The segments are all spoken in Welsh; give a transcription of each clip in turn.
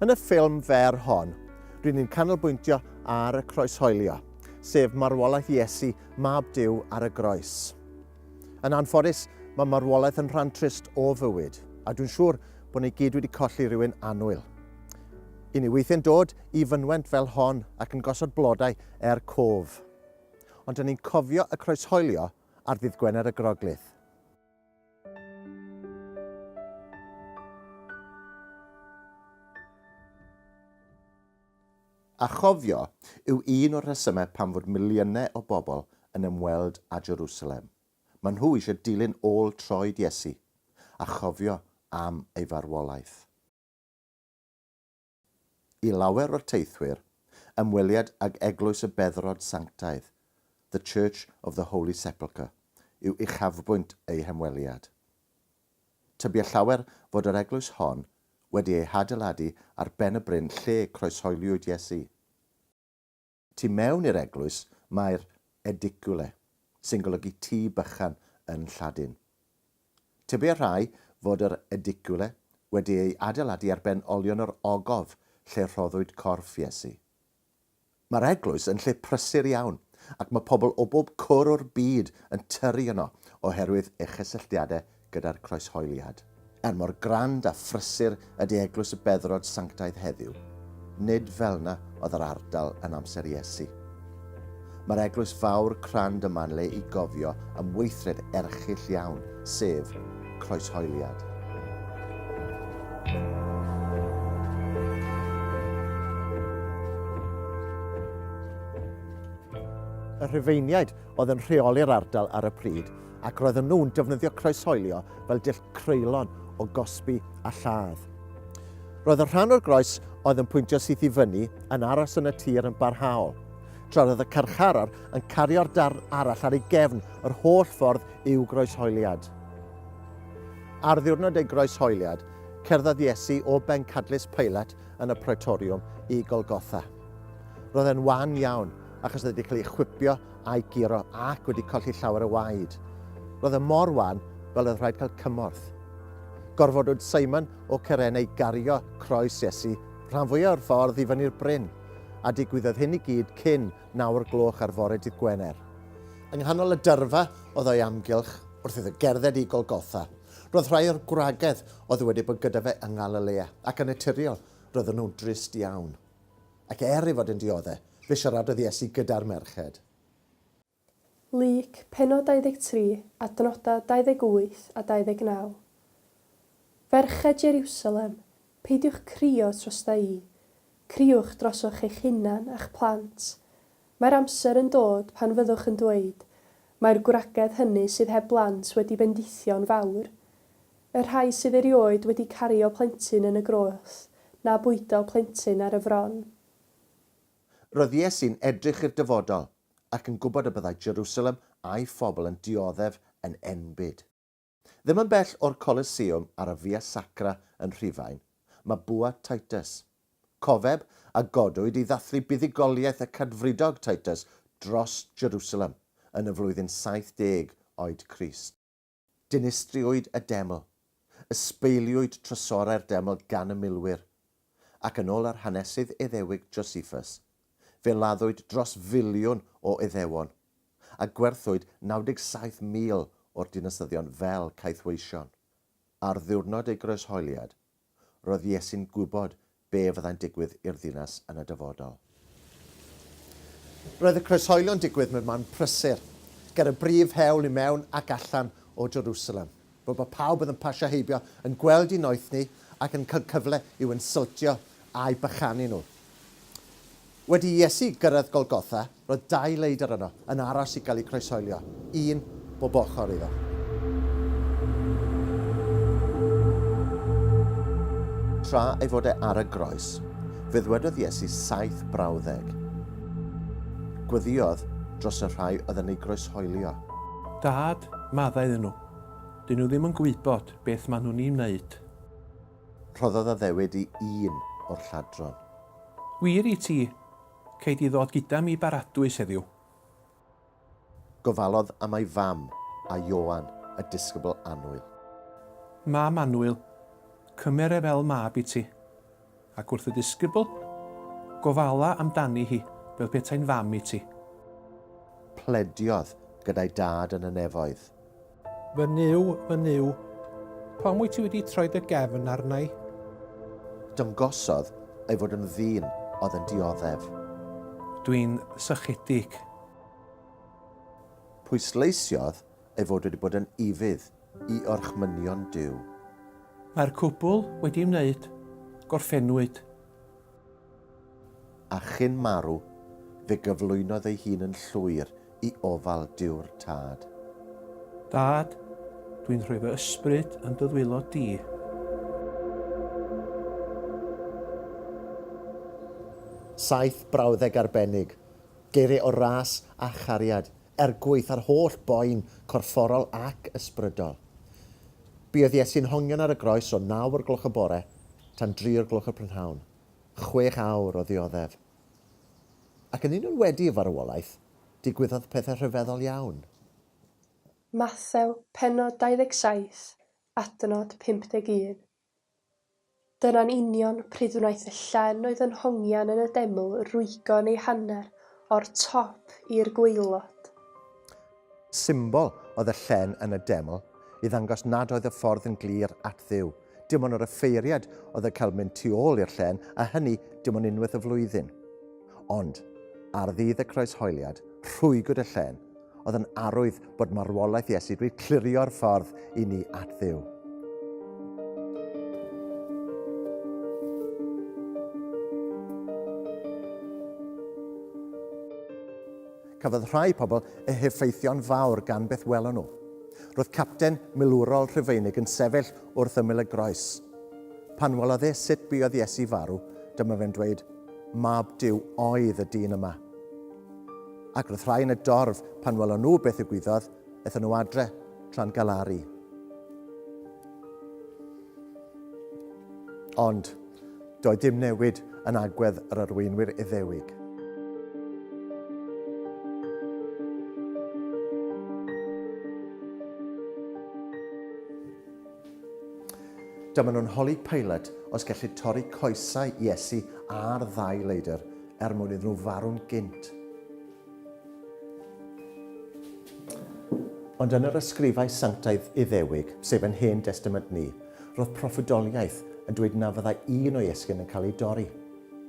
Yn y ffilm fer hon, rydyn ni'n canolbwyntio ar y croeshoelio, sef marwolaeth Iesu, mab Dyw ar y groes. Yn anffodus, mae marwolaeth yn rhan trist o fywyd, a dwi'n siŵr bod ni gyd wedi colli rhywun annwyl. I ni weithiau'n dod i fynwent fel hon ac yn gosod blodau er cof. Ond dyn ni'n cofio y croeshoelio ar ddydd Gwener y Groglith. A chofio yw un o'r rhesymau pam fod miliynau o bobl yn ymweld â Jerusalem. Maen nhw eisiau dilyn ôl troed Iesu a chofio am ei farwolaeth. I lawer o'r teithwyr, ymweliad ag Eglwys y Beddrod Sanctaidd, The Church of the Holy Sepulchre, yw uchafbwynt eu hymweliad. Tybiai llawer fod yr eglwys hon wedi ei hadeiladu ar ben y bryn lle croeshoeliwyd Iesu. Tu mewn i'r eglwys mae'r edicule, sy'n golygu tŷ bychan yn Lladin. Tybiai rhai fod yr edicule wedi ei adeiladu ar ben olion yr ogof lle rhoddwyd corff Iesu. Mae'r eglwys yn lle prysur iawn, ac mae pobl o bob cwr o'r byd yn tyru yno oherwydd ei chysylltiadau gyda'r Croeshoeliad. Er mor grand a phrysur ydy Eglwys y Beddrod Sanctaidd heddiw, nid fel'na oedd yr ardal yn amser Iesu. Mae'r eglwys fawr crand yma'n le i gofio am weithred erchyll iawn, sef croeshoeliad. y Rhufeiniaid oedd yn rheoli'r ardal ar y pryd ac roedden nhw'n defnyddio croeshoelio fel dull creulon o gosbi a lladd. Roedd y rhan o'r groes oedd yn pwyntio syth i fyny yn aros yn y tir yn barhaol. tra roedd y carcharor yn cario'r darn arall ar ei gefn yr holl ffordd i'w groeshoeliad. Ar ddiwrnod ei groeshoeliad, cerddodd Iesu o bencadlys Peilat yn y Praetoriwm i Golgotha. Roedd e'n wan iawn, achos oedd wedi cael ei chwipio a'i guro ac wedi colli llawer o waed. Roedd e mor wan fel oedd rhaid cael cymorth. Gorfodwyd Simon o Ceren ei gario croes Iesu rhan fwyaf o'r ffordd i fyny'r bryn. a digwyddodd hyn i gyd cyn naw o'r gloch ar fore dydd Gwener. Yng nghanol y dyrfa oedd o'i amgylch wrth iddo gerdded i Golgotha. Roedd rhai o'r gwragedd oedd wedi bod gyda fe yng Ngalilea, ac yn naturiol, roedden nhw'n drist iawn. Ac er ei fod yn diodde', fe siaradodd Iesu gyda'r merched. Lug, pennod 23, adnodau 28 a 29. Ferched Jeriwsalem, peidiwch crio trosta i, criwch drosoch eich hunan a'ch plant. Mae'r amser yn dod pan fyddwch yn dweud, Mae'r gwragedd hynny sydd heb blant wedi bendithio'n fawr. Y rhai sydd erioed wedi cario plentyn yn y groes, na bwydo plentyn ar y fron. Roedd Iesu'n edrych i'r dyfodol. ac yn gwybod y byddai Jerusalem a'i phobl yn dioddef yn enbyd. Ddim yn bell o'r Coliseum ar y Via Sacra yn Rhufain, mae bwa Titus. Cofeb a godwyd i ddathlu buddugoliaeth y Cadfridog Titus dros Jerusalem yn y flwyddyn 70 oed Crist. Dinistriwyd y deml, ysbeiliwyd trysorau'r deml gan y milwyr, ac yn ôl yr hanesydd Iddewig Josephus, fe laddwyd dros filiwn o Iddewon, a gwerthwyd 97,000 o'r dinasyddion fel caethweision. Ar ddiwrnod ei groeshoeliad, Roedd Iesu'n gwybod be fyddai'n digwydd i'r ddinas yn y dyfodol. Roedd y croeshoelio'n digwydd mewn man prysur, ger y brif hewl i mewn ac allan o Jerusalem, fel bod pawb oedd yn pasio heibio yn gweld eu noethni ac yn cael cyfle i'w insyltio a'u bychanu nhw. Wedi i Iesu gyrraedd Golgotha, Roedd dau leidr yno, yn aros i gael eu croeshoelio, un bob ochr iddo. Tra ei fod e ar y groes, fe ddwedodd Iesu saith brawddeg. Gweddïodd dros y rhai oedd yn ei groeshoelio. Dad, maddau iddyn nhw. Dyn nhw ddim yn gwybod beth maen nhw'n ei wneud. Rhoddodd addewid i un o'r lladron. Wir i ti, Cei di ddod gyda mi i Baradwys heddiw? Gofalodd am ei fam a Ioan, y disgybl annwyl. Mam annwyl, cymer e fel mab i ti. Ac wrth y disgybl, Gofala am dani hi, fel petai'n fam i ti. Plediodd gyda'i dad yn y nefoedd. Fy Nuw, fy Nuw, pam wyt ti wedi troi dy gefn arna i? Dyngosodd ei fod yn ddyn oedd yn dioddef. Dwi'n sychedig. Pwysleisiodd ei fod wedi bod yn ufudd i orchmynion Duw. Mae'r cwbl wedi ymwneud. Gorffennwyd. A chyn marw, fe gyflwynodd ei hun yn llwyr i ofal Duw'r Tad. Dad, dwi'n rhoi fy ysbryd yn dy ddwylo di. Saith brawddeg arbennig, geiriau o ras a chariad, er gwaeth ar holl boen corfforol ac ysbrydol. Buodd Iesu'n hongian ar y groes o naw o'r gloch y bore, tan dri o'r gloch y prynhawn, chwech awr o ddioddef. Ac yn union wedi y farwolaeth, digwyddodd pethau rhyfeddol iawn. Mathew, pennod 27, adnod 51. Dyna'n union pryd wnaeth y llen oedd yn hongian yn y deml rwygo'n ei hanner o'r top i'r gwaelod. Symbol oedd y llen yn y deml, i ddangos nad oedd y ffordd yn glir at Dduw. Dim ond yr offeiriad oedd yn cael mynd tu ôl i'r llen, a hynny dim ond unwaith y flwyddyn. Ond, ar ddydd y Croeshoeliad, rhwygwyd y llen, oedd yn arwydd bod marwolaeth Iesu wedi clirio'r ffordd i ni at Dduw. Cafodd rhai pobl eu heffeithio'n fawr gan beth welon nhw. Roedd capten milwrol Rhufeinig yn sefyll wrth ymyl y groes. Pan welodd e sut buodd Iesu farw, dyma fe'n dweud, Mab Duw oedd y dyn yma. Ac roedd rhai yn y dorf, pan welon nhw beth y gwyddodd, ethon nhw adre tra'n galaru. Ond, Doedd dim newid yn agwedd yr arweinwyr Iddewig. Dyma nhw'n holi Pilate os gellu torri coesau Iesu ar ddau leidr er mwyn iddyn nhw farw'n gynt. Ond yn yr ysgrifau sanctaidd Iddewig, sef yn Hen Destament ni, roedd proffwydoliaeth yn dweud na fyddai un o'i esgyn yn cael ei dorri.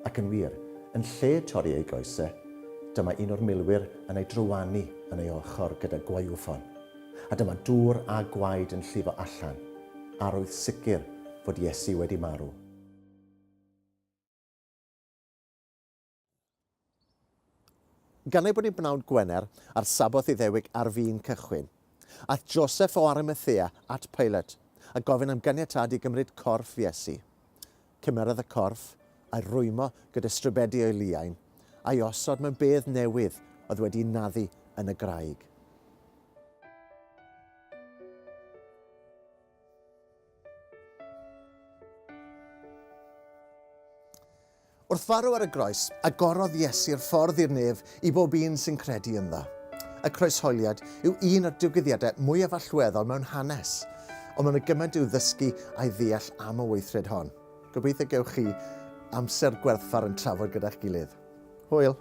Ac yn wir, yn lle torri ei goes e, dyma un o'r milwyr yn ei drywanu yn ei ochr gyda gwaywffon, a dyma dŵr a gwaed yn llifo allan, arwydd sicr fod Iesu wedi marw. Gan ei bod yn bnawn Gwener, a'r Sabboth Iddewig ar fin cychwyn, aeth Joseph o Arimathea at Pilate, a gofyn am ganiatâd i gymryd corff Iesu. Cymerodd y corff, a'i rwymo gyda strybedi o'i liain, a'i osod mewn bedd newydd oedd wedi'i naddu yn y graig. Wrth farw ar y groes, agorodd Iesu'r ffordd i'r nef i bob un sy'n credu ynddo. Y croeshoeliad yw un o'r digwyddiadau mwyaf allweddol mewn hanes, ond mae yna gymaint i'w ddysgu a'i ddeall am y weithred hon. Gobeithio gewch chi amser gwerthfawr yn trafod gyda'ch gilydd. Hwyl!